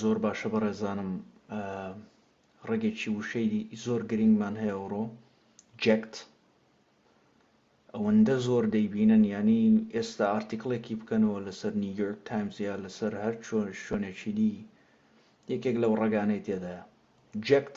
زۆر باشە بەڕێزانم ڕەگێکی وشەی زۆر گرنگمان هەیە ئەوڕۆ جەکت ئەوەندە زۆر دەیبینن ینی ئێستا ئارتیکلێکی بکەنەوە لەسەر نیویۆرک تایمز یا لەسەر هەر چۆن شوێنێکی دی یەکێک لەو ڕگانەی تێدایە جەکت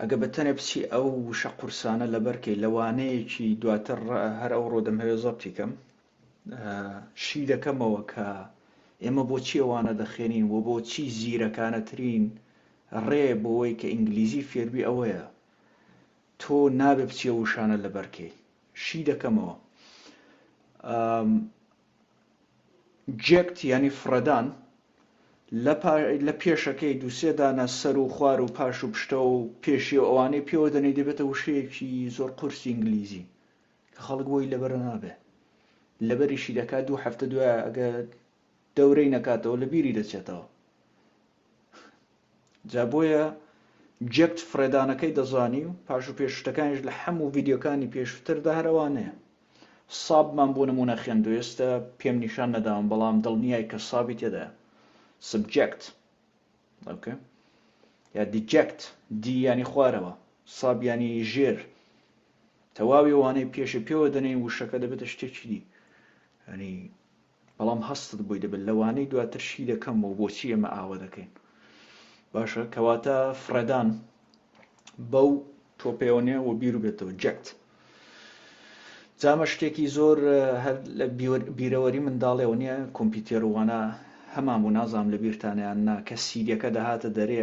ئەگە بە تەنێ بچی ئەو وشە قورسانە لەبەر کەی لە وانەیەکی دواتر هەر ئەو ڕۆ دەمهەوێ زەبتی کەم شی دەکەمەوە کە ئێمە بۆچی ئەوانە دەخێنین و بۆچی زیرەکانەترین ڕێ بۆەوەی کە ئینگلیزی فێربی ئەوەیە تۆ نابێ بچیە وشانە لەبەرکەی شی دەکەمەوە جێکت یانی فڕێدان لە پێشەکەی دوو سێ دانە سەر و خوار و پاش و پشتەوە و پێشی و ئەوانەی پێوە دەنێی دەبێتە وشەیەکی زۆر قورسی ئینگلیزی کە خەڵک بۆی لەبەر نابێ لەبەریشی دەکات دوو هەفتە دوای ئەگەر دەورەی نەکاتەوە لە بیری دەچێتەوە جا بۆیە جەکت فڕێدانەکەی دەزانی و پاش و پێش شتەکانیش لە حەموو ڤیدیۆکانی پێشووتردا هەر ئەوانەیە. سابمان بۆ نموونە خێندووە ئێستە پێم نیشان نەداون بەڵام دڵنیای کە سابی تێدایە. سبجەکت ئۆکەی یا دیجەکت دی یانی خوارەوە ساب یانی ژێر تەواوی ئەوانەی پێشی پێوە دەنێین وشەکە دەبێتە شتێکی دی یانی بەڵام هەستت بۆی دەبێت لەوانەی دواتر شی دەکەمەوە بۆچی ئێمە ئاوە دەکەین باشە کەواتە فڕێدان بەو تۆپێۆنێ و بیر و بێتەوە جەکت جامە شتێکی زۆر هەر لە بیرەوەری منداڵێەوە نیە کۆمپیوتێروانە هەمان بوو نازام لە بیرتانیان نا کە سیریەکە دەهاتە دەرێ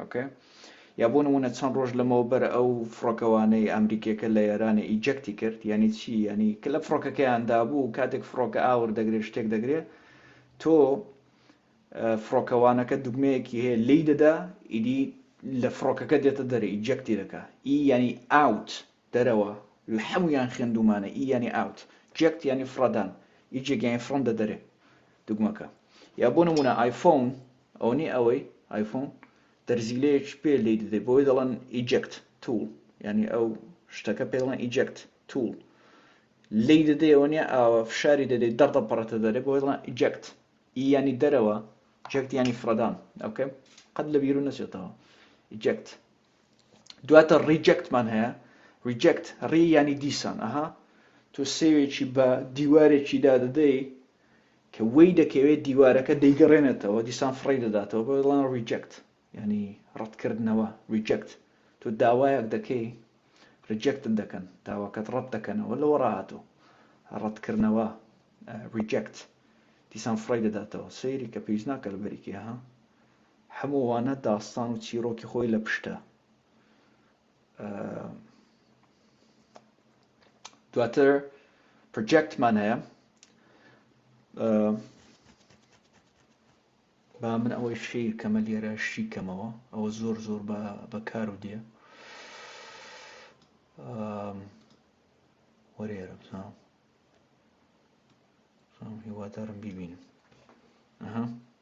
ئۆکەی یا بۆ نمونە چەند ڕۆژ لەمەوە بەر ئەو فڕۆکەوانەی ئەمریکیەکە لە ئێرانە ئیجەکتی کرد یعنی چی یعنی کە لە فڕۆکەکەیان دابوو کاتێک فڕۆکە ئاور دەگرێت شتێک دەگرێت تۆ فڕۆکەوانەکە دوگمەیەکی هەیە لی دەدا ئیدی لە فڕۆکەکە دێتە دەرە ئیجەکتی دەکە ئی یعنی ئاوت دەرەوە لە حەموویان خێندوومانە ئی یانی ئاوت جێکت یانی فڕەدان ی جێک یانی فڕندە دەرێ دوگمەکە یا بۆ نموونە ئایفۆن ئەونی ئەوەی ئایفۆن دەرزیلەیەکی پێ لێی دەدەی بۆی دەڵێن ئیجێکت تووڵ یانی ئەو شتەکە پێ دەڵێن ئیجێکت تووڵ لێی دەدەی ئەوە نیە ئاوە فشاری دەدەی دەڕدەپەڕێتە دەرێ بۆی دەڵێن ئیجێکت ئی یانی دەرەوە جێکت یانی فڕەدان ئەوکەم قەت لە بیرو نەچێتەوە ئیجێکت دواتر ڕیجەکت مان هەیە ڕیجەکت ڕی ینی دیسان ئەها تۆ سێوێکی بە دیوارێکی دادەدەی کە وەی دەکەوێت دیوارەکە دەیگەڕێنێتەوە دیسان فڕی دەداتەوە بۆ دڵان ڕیجەکت ینی ڕەتکردنەوە ڕیجەکت تۆ داوایەک دەکەی ڕیجەکت دەکەن داواکەت ڕەت دەکەنەوە لەوە ڕاهاتوو ڕەتکردنەوە ڕیجەکت دیسان فڕی دەداتەوە سەیری کە پێویست ناکە لە بەریکە ها هەموو وانە داستان و چیرۆکی خۆی لە پشتە. دواتر پرجێکتمان هەیە با من ئەوەی شیر کەمە لێرە شی کەمەوە ئەوە زۆر زۆر بەکار و دێ وەرێرە بزانم هیوادارم بیبینم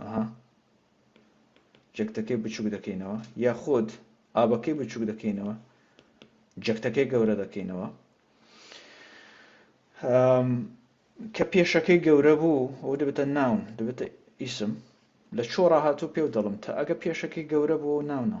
ئەها جەکتەکەی بچووک دەکەینەوە یا خۆت ئابەکەی بچووک دەکەینەوە جەکتەکەی گەورە دەکەینەوە کە پێشەکەی گەورە بوو ئەو دەبێتە ناون دەبێتە ئیسم لە چۆڕە هاتوو پێو دەڵم تا ئەگە پێشەکەی گەورە بوو ناونە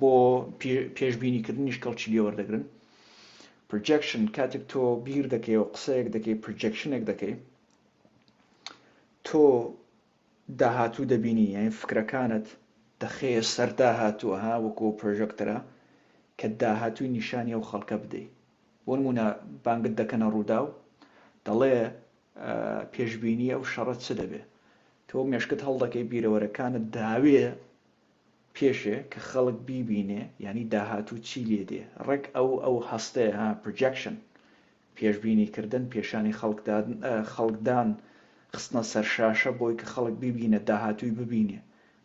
بۆ پێشبینیکردنی شکڵ چی لێوەردەگرن؟ پرجەکشن کاتێک تۆ بیر دەکەی و قسەیەک دەکەی پرجەکشنێک دەکەی تۆ داهاتوو دەبینی یان فکرەکانت دەخەیە سەر داهاتووە ها وەکو پرۆژەکتەرە کە داهاتووی نیشانی ئەو خەڵکە بدەیت بۆ نمونە بانگت دەکەنە ڕوودا و دەڵێ پێشببینی ئەو شەڕەت چ دەبێ تۆ مێشکت هەڵدەکەی بیرەوەرەکانت داوێ پێشێ کە خەڵک بیبینێ یانی داهاتوو چی لێ دێ ڕێک ئەو ئەو هەستەیە ها پرجەکشن پێشبینی کردن پێشانی خەڵک دادن خەڵک دان خستنە سەر شاشە بۆی کە خەڵک بیبینێ داهاتووی ببینێ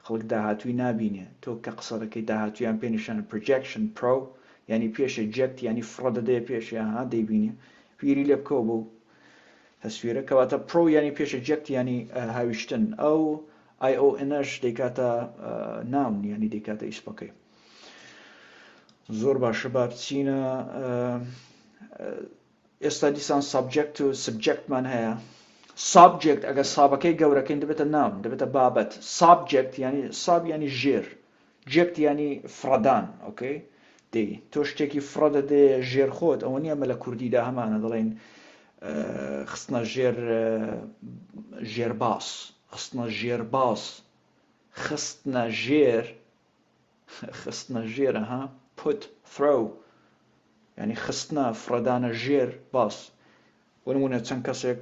خەڵک داهاتووی نابینێ تۆ کە قسە دەکەی داهاتوویان پێ نیشان پرجەکشن پرۆ یانی پێشێ جەکت یانی فڕە دەدەیە پێشێ ها دەیبینێ بیری لێ بکەوە بۆ تەسویرە کەواتە پرۆ یانی پێشێ جەکت یانی هاویشتن ئەو ئای ئەو انەش دەیکاتە ناون یانی دەیکاتە ئیسمەکەی زۆر باشە با بچینە ئێستا دیسان سابجەکت و سبجەکتمان هەیە سابجێکت ئەگە سابەکەی گەورەکەین دەبێتە ناون دەبێتە بابەت سابجێکت ینی ساب ینی ژێر جەکت یانی فڕەدان ئۆکەی دەی تۆ شتێکی فڕە دەدێ ژێر خۆت ئەوە نیە ئەمە لە کوردیدا هەمانە دەڵێن خستنە ژێر ژێر باس خستنە ژێر باس خستنە ژێر خستنە ژێرە ها پوت فرو ینی خستنە فڕەدانە ژێر باس وەنمونە چەند کەسێک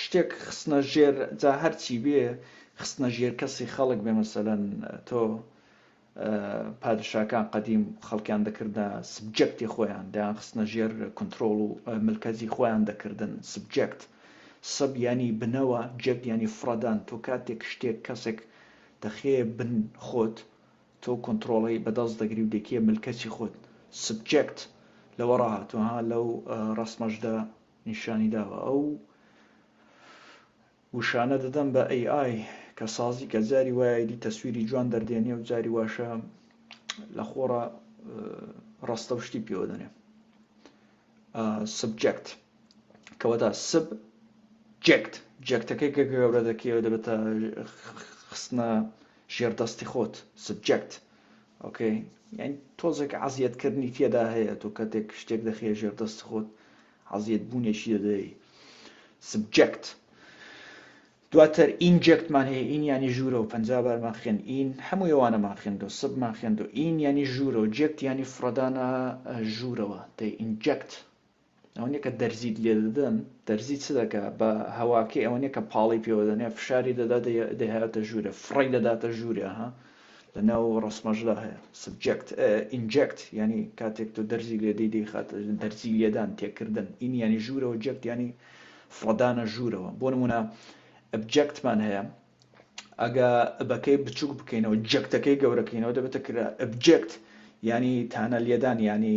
شتێک خستنە ژێر جا هەرچی بێ خستنە ژێر کەسی خەڵک بێ مەسەلەن تۆ پادشاکان قەدیم خەڵکیان دەکردە سبجەکتی خۆیان دەیان خستنە ژێر کنترۆڵ و ملکەزی خۆیان دەکردن سبجەکت سب ینی بنەوە جەکت ینی فڕەدان تۆ کاتێک شتێک کەسێک دەخەیە بن خۆت تۆ کنترۆڵی بەدەست دەگری و دەکیە ملکەچی خۆت سبجەکت لەوە ڕاهاتوە ها لەو ڕسمەشدا نیشانی داوە ئەو وشانە دەدەم بە AI کە سازی کە جاری وایە دی تەسویری جوان دەردێنێ و جاری واشە لە خۆڕە ڕاستە و شتی پێوە دەنێ سبجەکت کەوەدا سب جێکت جێکتەکەی کە گەورە دەکەوە دەبێتە خستنە ژێردەستی خۆت سبجەکت ئۆکەی یانی تۆزێک عەزیەت کردنی تێدا هەیە تۆ کەتێک شتێک دەخەیە ژێر دەست خۆت عەزیەت بوونێکی دەدەی سبجەکت دواتر ئینجەکتمان هەیە ئین ینی ژوورە و پەنج بارمان خوێن ئین هەموو ئەوانەمان خوێندۆ سبمان خوێندۆ ئین ینی ژوورە و جێکت ینی فڕدانە ژوورەوە دەی ئینجەکت ئەوەنیە کە دەرزیت لێ دەدەن دەرزی چ دەکە بە هەواکەی ئەوەنیە کە پاڵی پێوە دەنێ فشاری دەدا دەهاتە ژوورە فڕی دەداتە ژوورە ها لە ناو ڕسمەشدا هەیە سبجەکت ئینجەکت ینی کاتێک تۆ دەرزی لێ دەی دەیخاتە دەرزی لێدان تێکردن این ینی ژوورەوە جەکت ینی فڕدانە ژوورەوە بۆ نمونە ئەبجەکتمان هەیە ئەگە بەکەی بچوک بکەینەوە جەکتەکەی گەورەکەینەوە دەبێتە کرا ئەبجێکت یعنی تانە لێدان یعنی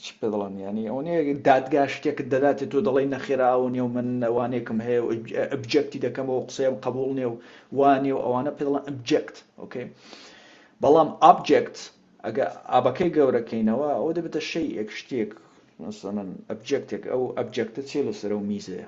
چ پێ دەڵێن یعنی ئەو نەیە دادگا شتێکت دەداتێت تۆ دەڵێی نەخێرا ئەو نیە و من وانێکم هەیە و ئەبجێکتی دەکەمەوە قسەیەم قبول نیە و وانێ و ئەوانە پێ دەڵێن ئەبجێکت ئۆکەی بەڵام ئابجێکت ئەگە ئابەکەی گەورەکەینەوە ئەو دەبێتە شەی ئێک شتێک مثلا ئەبجێکتێک ئەو ئەبجێکتە چێ لەسەر و میزەیە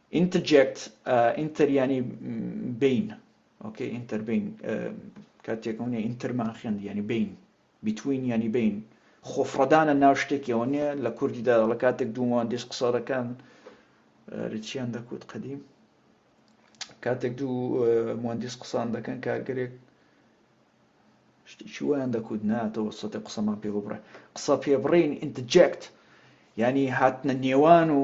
ئینتجێکت، ئینتەر یانی بەین ئۆکەی ئینتەر بەین کاتێک ئەونێ ئینتەرمان خوێند یانی بەین بیتوین یانی بەین خۆفڕەدانە ناو شتێکەوە نیە لە کوردیدا لە کاتێک دوو مهندس قسە دەکەن رچیان دەکوت قەدیم کاتێک دوو مهندس قسان دەکەن کارگەرێک شتێکی وایان دەکوت ناتەوە سەتی قسەمان پێ بڕێ قسە پێ بڕین ئینتجێکت ینی هاتنە نێوان و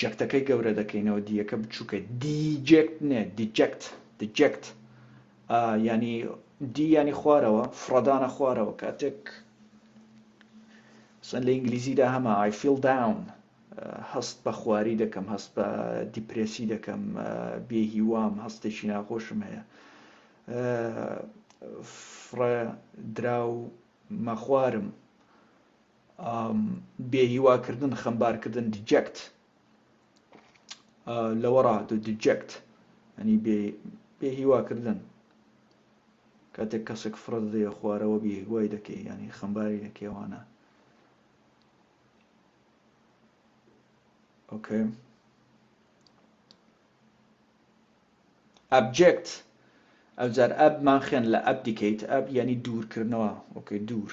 جەکتەکەی گەورە دەکەینەوە دیەکە بچووکە دیجێکت نێ دیجەکت دیجێکت ینی دی ینی خوارەوە فڕدانە خوارەوە کاتێک سن لە ئینگلیزیدا هەمە ئایفیل داون هەست بە خواری دەکەم هەست بە دیپرسی دەکەم بێ هیوام هەستێکی ناخۆشم هەیە فرە دراو مەخوارم بێهیوا کردن خەمبار کردن دیجەکت لەوە ڕاهاتوو دیجەکت ئەنی بێهیوا کردن کاتێک کەسێک فرە دەیە خوارەوە بێهیوای دەکەی ینی خەمباری دەکەوانە ئۆکەی ئەبجێکت ئەوجار ئەبمان خوێن لە ئەب دیکەیت ئەب ینی دوورکردنەوە ئۆکەی دوور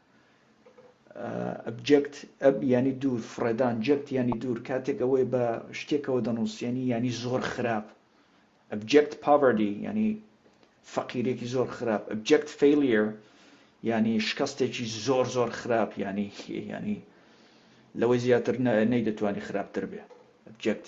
ئەبجەکت، Ab، یانی دوور، فڕێدان، Jekt، یانی دوور، کاتێک ئەوەی بە شتێکەوە دەنووسێنی یانی زۆر خراپ، ئەبجەکت پاڤەردی، یانی فەقیریێکی زۆر خراپ، ئەبجەکت فەیلیر، یانی شکەستێکی زۆر زۆر خراپ یانی یانی لەوەی زیاتر نەیدەتوانی خراپتر بێ، ئەبجەکت.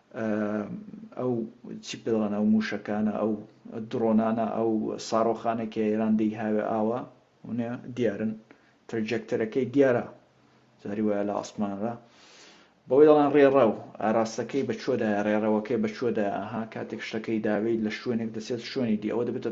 ئەو چی پێ دەڵێن ئەو مووشەکانە ئەو دڕۆنانە ئەو ساڕۆخانە کە ئێران دەیهاوێ ئاوا ونێ دیارن ترجەکتەرەکەی دیارە جاری وایە لە ئاسمانرا بەوەی دەڵێن ڕێڕە و ئاراستەکەی بەچۆدایە ڕێڕەوەکەی بەچۆدایە ئەها کاتێک شتەکەی داوێت لە شوێنێک دەچێت شوێنی دی ئەوە دەبێتە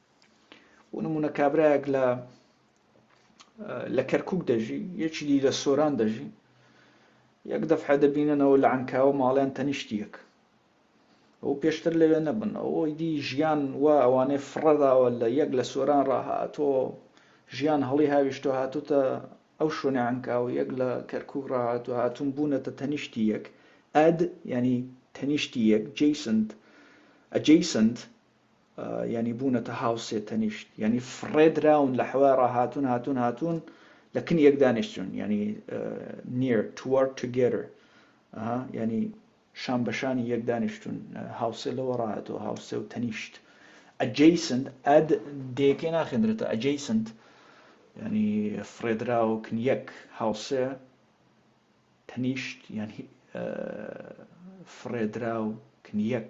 بۆ نمونە کابرایەک لە لە کەرکک دەژی یەکی دی لە سۆران دەژی یەک دەفحە دەبیننەوە لە ئەنکاوە ماڵیان تەنیشتیەک ئەو پێشتر لەوێ نەبن ئەوەی دی ژیان و ئەوانەی فڕەداوە لە یەک لە سۆران ڕاهاتۆ ژیان هەڵی هاویشتۆ هاتوتە ئەو شوێنە ئەنکاوە یەک لە کەرکک ڕاهات و هاتون بوونەتە تەنیشتی یەک ئەد ینی تەنیشتی یەک جیسنت ئەجیسنت یانی بوونەتە هاو سێ تەنیشت یانی فڕێ دراون لە حەوای ڕاهاتون هاتون هاتون لە کن یەک دانیشتون یانی نیر توەر توگێرر یانی شان بەشانی یەک دانیشتون هاوسێ لەوە ڕاهاتەوە هاوسێ و تەنیشت ئەجیسنت ئەد دێکێ ناخێندرێتە ئەجیسنت ینی فرێدراوکن یەک هاوسێ تەنیشت یان فرێدراوکن یەک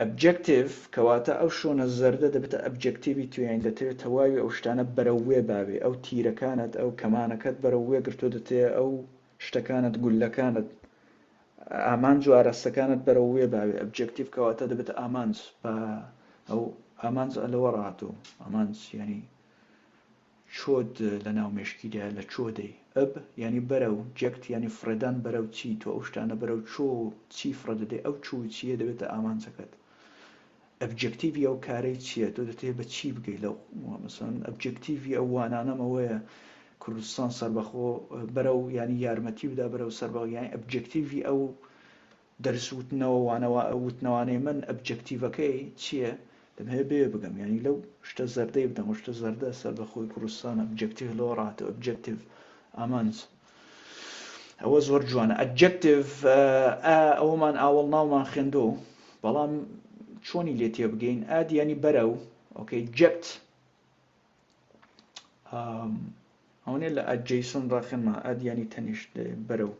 ئەبجەکتیڤ، کەواتە ئەو شۆنە زەردە دەبێتە ئەبجەکتیڤی تو یانی دەتەوێت تەواوی ئەو شتانە بەرەو وێ باوێ، ئەو تیرەکانت، ئەو کەمانەکەت بەرەو وێ گرتووە دەتەیە ئەو شتەکانت، گوللەکانت، ئامانج و ئاراستەکانت بەرەو وێ باوێ، ئەبجەکتیڤ، کەواتە دەبێتە ئامانج، با ئەو ئامانج ئە لەوە ڕاهاتووە، ئامانج یانی. چۆد لە ناو مێشکیدایە لە چۆ دەی ئەب یانی بەرە و جەکت یانی فڕێدان بەرە و چی تۆ ئەو شتانە بەرە و چۆ و چی فڕێ دەدەی ئەو چۆ و چییە دەبێتە ئامانجەکەت ئەبجەکتیڤی ئەو کارەی چییە تۆ دەتەوێ بە چی بگەی لەو مەسەن ئەبجەکتیڤی ئەو وانانەم ئەوەیە کوردستان سەربەخۆ بەرە و یانی یارمەتی بدا بەرە و سەربەخۆ یانی ئەبجەکتیڤی ئەو دەرس وتنەوە وانە وتنەوانەی من ئەبجەکتیڤەکەی چیە دەمهەوێ بەوێ بگەم یانی لەو شتە زەردەی بدەم و شتە زەردە سەر بە خۆی کوردستانە ئەبجەکتیڤ لەوە ڕاتەوە ئەبجەکتیڤ ئامانج ئەوە زۆر جوانە ئەبجەکتیڤ ئەوەمان ئاوەڵ ناومان خوێندۆ بەڵام چۆنی لێ تێبگەین ئادیانی بەرە و ئۆکەی جەکت ئەوەنێ لە ئەد جەیسۆن ڕاقێنما ئەد ینی تەنیشت بەرەو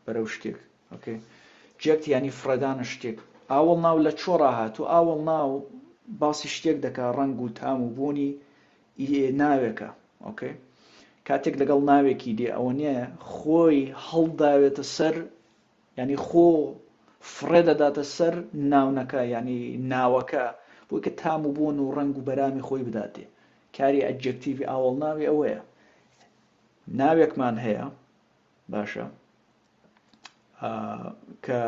بەرەو شتێک ئۆکێ جێت ینی فرەدانە شتێک ئاوڵ ناو لە چۆڕا هاتو ئاوڵ ناو باسی شتێک دەکا ڕنگ و تام و بوونی ناوێکە ئۆکەی کاتێک لەگەڵ ناوێکی دێ ئەوە نیە خۆی هەڵداوێتە سەر یانی خۆ فڕێ دەداتە سەر ناونەکە یانی ناوەکە بۆی کە تام و بۆن و ڕەنگ و بەرامی خۆی بداتێ کاری ئەجێکتیڤی ئاوەڵ ناوی ئەوەیە ناوێکمان هەیە باشە کە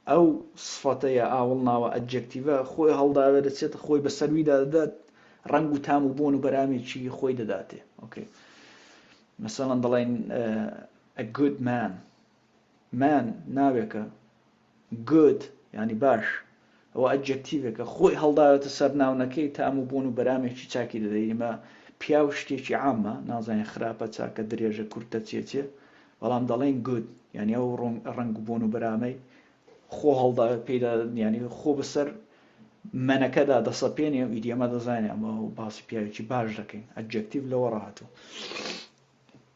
ئەو سفەتەیە ئاوڵ ناوە ئەجێکتیڤە خۆی هەڵداوێ دەچێت خۆی بە سەرویدا دەدات ڕنگ و تام و بۆن و بەرامێکی خۆی دەداتێ ئۆکەی مەسەڵەن دەڵێن ئەگود مان Man ناوێکە Good یانی باش ئەوە ئەدجەکتیڤێکە خۆی هەڵداوێتە سەر ناونەکەی تام و بوون و بەرامێکی چاکی دەدەی ئیمە پیاو شتێکی عامە نازانین خراپە چاکە درێژە کورتە چێ چێ بەڵام دەڵێین Good یانی ئەو ڕەنگ و بوون و بەرامەی خۆ هەڵداوێت پێدا یانی خۆ بەسەر مەنەکەدا دەسەپێنێ و ئیدیەمە دەزانێ ئەمە باسی پیاوێکی باش دەکەین ئەدجەکتیڤ لەوە ڕاهاتوو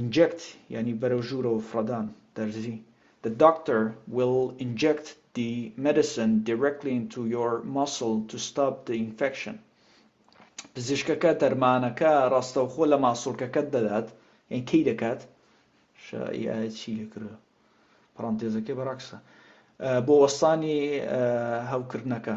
Inject یانی بەرەو ژوورەوە فڕەدان، دەرزی The doctor will inject the medicine directly into your muscle to stop the infection پزیشکەکە دەرمانەکە ڕاستەوخۆ لە ماسوڵکەکەت دەدات یان کەی دەکات شا ئی ئایە چی لەکرە پڕانتێزەکەی بەڕاکسە بۆ وەستانی هەوکردنەکە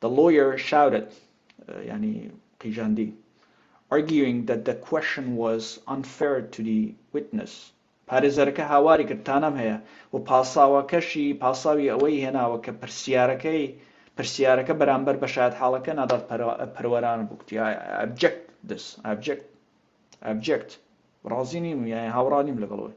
The lawyer shouted یانی قیژاندی arguing that the question was unfair to the witness پارێزەرەکە هاواری کرد تانەم هەیە و پاساوەکەشی پاساوی ئەوەی هێناوە کە پرسیارەکەی پرسیارەکە بەرامبەر بە شایەتحاڵەکە نادات پەروەرانە بوو کوتی ئەبجەکت دەس ئەبجەکت ئەبجەکت ڕازی نیم و یان هاوڕا نیم لەگەڵەوەی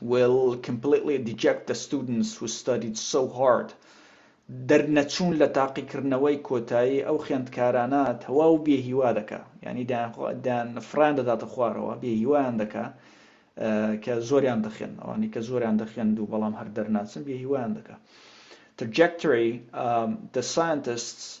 will completely deject the students who studied so hard دەرنەچوون لە تاقیکردنەوەی کۆتایی ئەو خوێندکارانە تەواو بێ هیوا دەکا یعنی دەیان فڕیان دەداتە خوارەوە بێ هیوایان دەکا کە زۆریان دەخێن ئەوانی کە زۆریان دەخێن دوو بەڵام هەر دەرناچن بێ هیوایان دەکا trajectory um, the scientists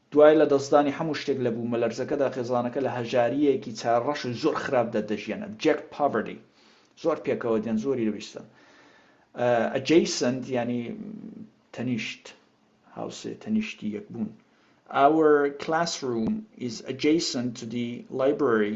دوای لەدەستدانی هەموو شتێک لە بوومەلەرزەکەدا، خێزانەکە لە هەژارییەکی چارڕەش و زۆر خراپدا دەژیان، Abject Poverty، زۆر پێکەوە دێن، زۆری لەویستن. Adjacent یانی تەنیشت، هاوسێ، تەنیشتی یەک بوون. Our classroom is adjacent to the library.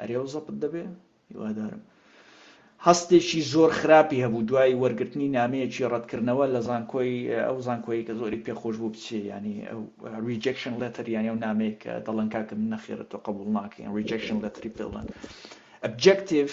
ئەرێ و زەبت دەبێ هیوادارم. هەستێکی زۆر خراپی هەبوو دوای وەرگرتنی نامەیەکی ڕەتکردنەوە لە زانکۆی ئەو زانکۆی کە زۆری پێخۆش بوو بچێ ینی ریجەکشن لەتەر یانی و نامەیە کە دەڵەن کاکە من نەخێرە تۆ قبول ناکەین ریجەکشن لەتری پێڵەن ئەبجەکتیف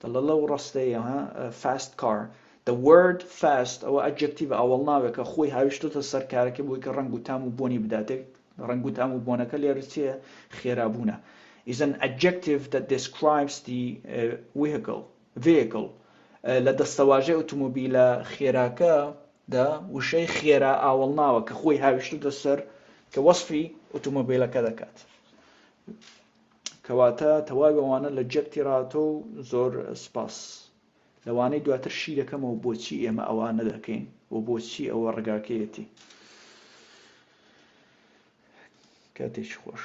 دەڵێ لەو ڕستەیە ها Fast Car The word Fast ئەوە ئەدجەکتیڤە ئاوەڵناوێکە خۆی هاویشتۆتە سەر کارەکە بۆی کە ڕەنگ و تام و بۆنی بدات ڕەنگ و تام و بۆنەکە لێرە چیە خێرابوونە is an adjective that describes the vehicle vehicle لە دەستەواژەی ئۆتۆمۆبیلە خێراکە دا وشەی خێرا ئاوەڵناوە کە خۆی هاویشتۆتە سەر کە وەسفی ئۆتۆمۆبیلەکە دەکات کەواتە تەواوی ئەوانە لە جەک تیراتۆ و زۆر سوپاس لەوانەی دواتر شی دەکەمەوە بۆچی ئێمە ئەوە نەدەکەین و بۆچی ئەوە ڕگاکەیەتی کاتێکی خۆش